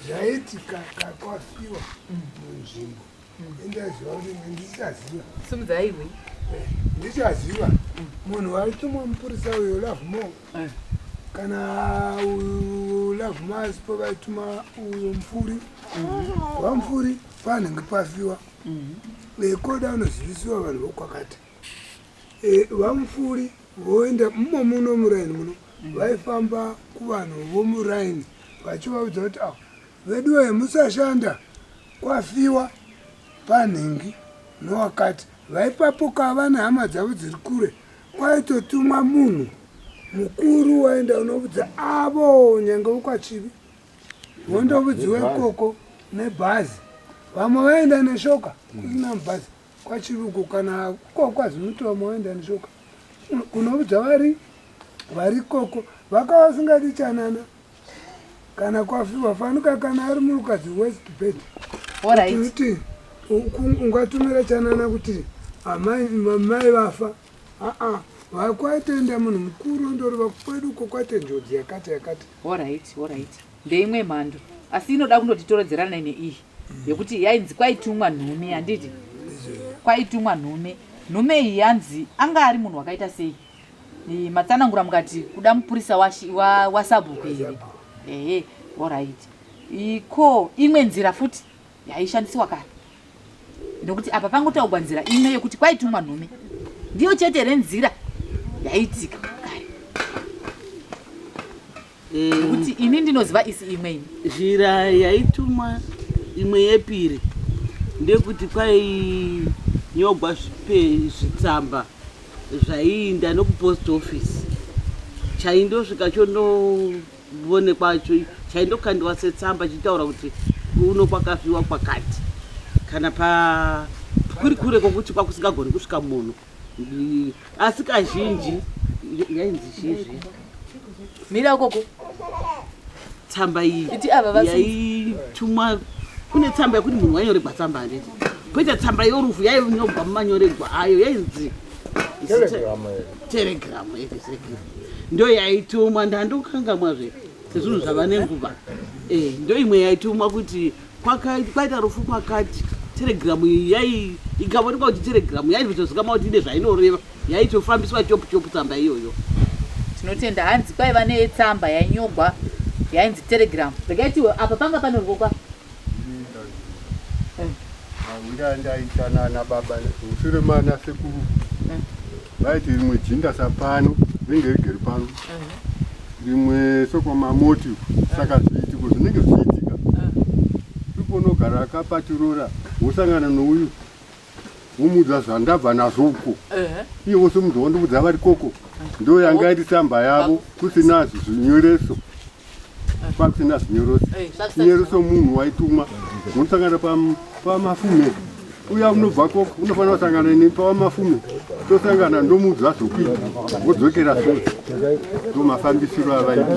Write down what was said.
zvaitika kakwafiwa munzvimbo indaziva kuti ndichaziva simudzaiwe eh, ndichaziva munhu waitumwa mupurisa uyo love more eh. kana love mas po vaituma uyo mupfuri mm-hmm. vamupfuri panenge pafiwa mm-hmm. vekoda unozivisiwa vanhu vokwakati Eh, vamupfuuri voenda mumo muno muraini muno mm. vaifamba kuvanhu vomuraini vachivaudza kuti avo veduwe musashanda kwafiwa panhingi nowakati vaipapuka vane hama dzavo dziri kure kwaitotumwa munhu mukuru waenda unoudza avo nyange wokwachivi vondovudziwa ikoko nebhazi vamwe vaenda neshoka kusina mubhazi kwachiruko kana ko kwazimutomo waenda neshoka kunoudza vari vari koko vakava vasingadi chanana kana kwafiwa fanika kana ari murukadzi west bed kuti ungatumira chanana kuti amai vafa aa vakwaitenda munhu mukuru ndoreva kwedu ko kwaite njodzi yakati yakati orit orit ndeimwe mhando asi inoda kundotitorodzerana ine iyi yekuti yainzi kwaitumwa nhume handiti kwaitumwa nhume nhume iyi yanzi anga ari munhu wakaita sei matsanangura mukati kuda mupurisa wasabhuku wa, wa here ehe orit ko imwe nzira futi yaishandisiwa kare nekuti apa pangotaugwa nzira imwe yekuti kwaitumwa nhume ndiyo chete here nzira yaitika nekuti eh, ini ndinoziva isi imwe ini zhira yaitumwa imwe yepiri ndekuti kwainyogwa zvitsamba zvaiinda nokupost office chaindosvika chondoonekwa chaindokandiwa setsamba chitaura kuti uno kwakazviwa kwakati kana pa kuri kure kwokuti kwakusingagoni kusvika munhu asi kazhinji yainzi chizvi mira koko tsamba iyi yaitumwa kune tsamba yekuti munhu wainyoregwa tsamba handiti koita tsamba yorufu yainyogwa mumanyoregwa ayo yainzi telegram ndo yaitumwa ndandokangamwa zve sezvinhu zvava nenguva eh, ndo imwe yaitumwa kuti kwaita rufu kwakati telegiramu iyi yai ikaonekwa kuti telegiramu yaitotozikamwa kuti ine zvainoreva yaitofambiswa chopu chopu tsamba iyoyo tinotenda hanzi kwaiva netsamba yainyogwa yainzi telegiramu rekaitiwe apa panga panorwokwa mawira ndaitanana baba mushure mana sekuru vaiti rimwe jinda sapano ringe rigere pano rimwe sokwamamoti saka zviitiko zvinenge zvichiitika ipo unogara akapatirora wosangana nouyu womuudza zvandabva nazvo uko iye wose munhu wondiudza vari koko ndo yanga iri tsamba yavo kusina zvinyoreso pakusina zvinyorose chinyorose munhu waitumwa munosangana pamafume uya unobva koko unofanira kusangana ini pawamafume tosangana ndomuudza zvokuita wodzokera sure ndo mafambisiro avaita